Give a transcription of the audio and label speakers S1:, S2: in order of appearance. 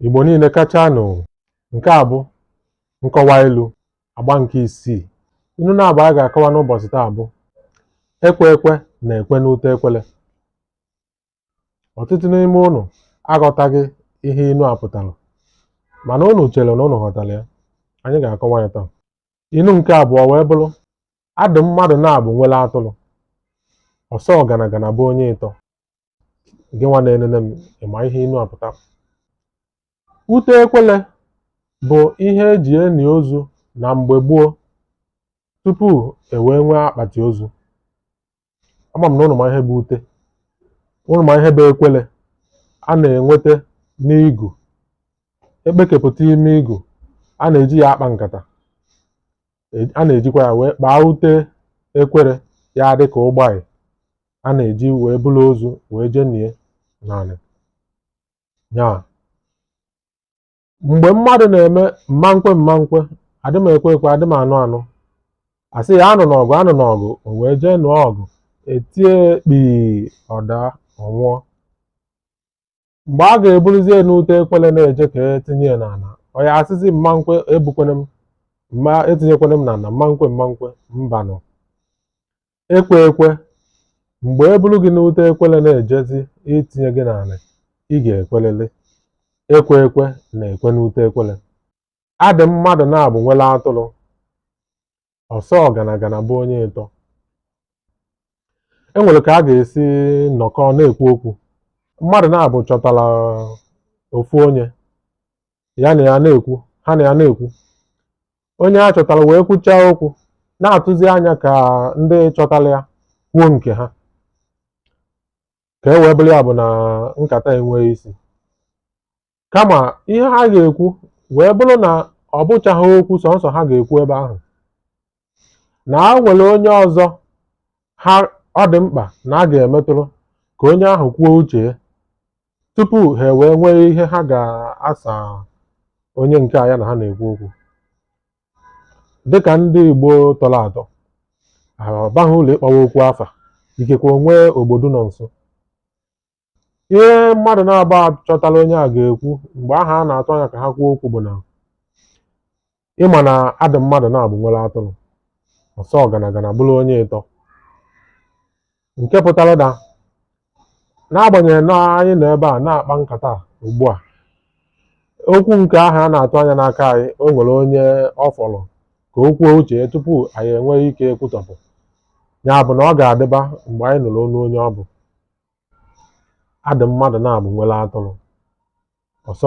S1: Igbo niile kachanụ nke a bụ nkọwa ilu agba nke isii ilu naabọ anyị ga-akọwa n'ụbọchị taa bụ ekwe ekwe na-ekwe n'ute ekwele ọtụtụ n'ime ụnụ aghọtaghị ihe ilu a pụtara mana ụnụ chere na ụnụ ghọtara ya anyị ga-akọwa ya taa ilu nke abụọ wee bụrụ a dị mmadụ naabọ nwere atụrụ ọsọ ọganagana bụ onye ịtọ gị nwa na-enene m ị ma ihe inu a pụtara ute ekwele bụ ihe e ji eni ozu na mgbe gboo tupu e wee nwee akpati ozu ama m na ụnụ ma ihe bụ ute ụnụ ma ihe bụ ekwele a na-enweta n'igu e kpekepụta ime igu a na-eji ya akpa nkata e, a na-ejikwa ya wee kpaa ute ekwere ya adị ka ụgbọ anyị a na-eji wee buru ozu wee jee nie n'anị ya mgbe mmadụ na-eme mmankwe mmankwe adị m ekwe ekwe adị m anụ anụ a sị ya anụna ọgụ anụna ọgụ o wee jee nụọ ọgụ e tie kpii ọ daa ọ nwụọ mgbe a ga-eburuzie n'ute ekwele na-eje ka e tinye ya n'ala ọ ya-asịzi mma nkwe ebukwene m mma etinyekwene m n'ala mma nkwe mma nkwe mbanụ ekwe ekwe mgbe e buru gị n'ute ekwele na-ejezi itinye gị n'ala ị ga-ekwelịlị ekwe ekwe na-ekwe n'ute ekwele a dị mmadụ naabọ nwere atụrụ ọsọ ọganagana bụ onye ịtọ e nwere ka a ga-esi nọkọ na-ekwu okwu mmadụ naabọ chọtara ofu onye ya na ya na-ekwu ha na ya na-ekwu onye ha chọtara wee kwuchaa okwu na-atụzi anya ka ndị chọtara ya kwuo nke ha ka e wee bụrụ ya bụ na nkata enwee isi kama ihe ha ga-ekwu wee bụrụ na ọ bụchaghị okwu sọnsọ ha ga-ekwu ebe ahụ na ha nwere onye ọzọ ha ọ dị mkpa na ha ga-emetụrụ ka onye ahụ kwuo uche ya tupu ha wee nwee ihe ha ga-asa onye nke a ya na ha na-ekwu okwu dịka ndị Igbo tọrọ atọ ọ baghị uru ịkpọwa okwu afa ikekwe o nwee ogbodu nọ nso Ihe mmadụ naabọ a chọtara onye a ga-ekwu mgbe ahụ a na-atụ anya ka ha kwuo okwu bụ na ị ma na a dị mmadụ naabọ nwere atụrụ ọsọ ọganagana bụrụ onye ịtọ nke pụtara na n'agbanyeghị na anyị nọ ebe a na-akpa nkata a ugbu a okwu nke ahụ a na-atụ anya n'aka anyị o nwere onye ọ fọrọ ka o kwuo uche ya tupu anyị enwee ike ekwutọpụ ya bụ na ọ ga-adịba mgbe anyị nụrụ onu onye ọ bụ adị mmadụ na-abụ nwere atụrụ ọsọ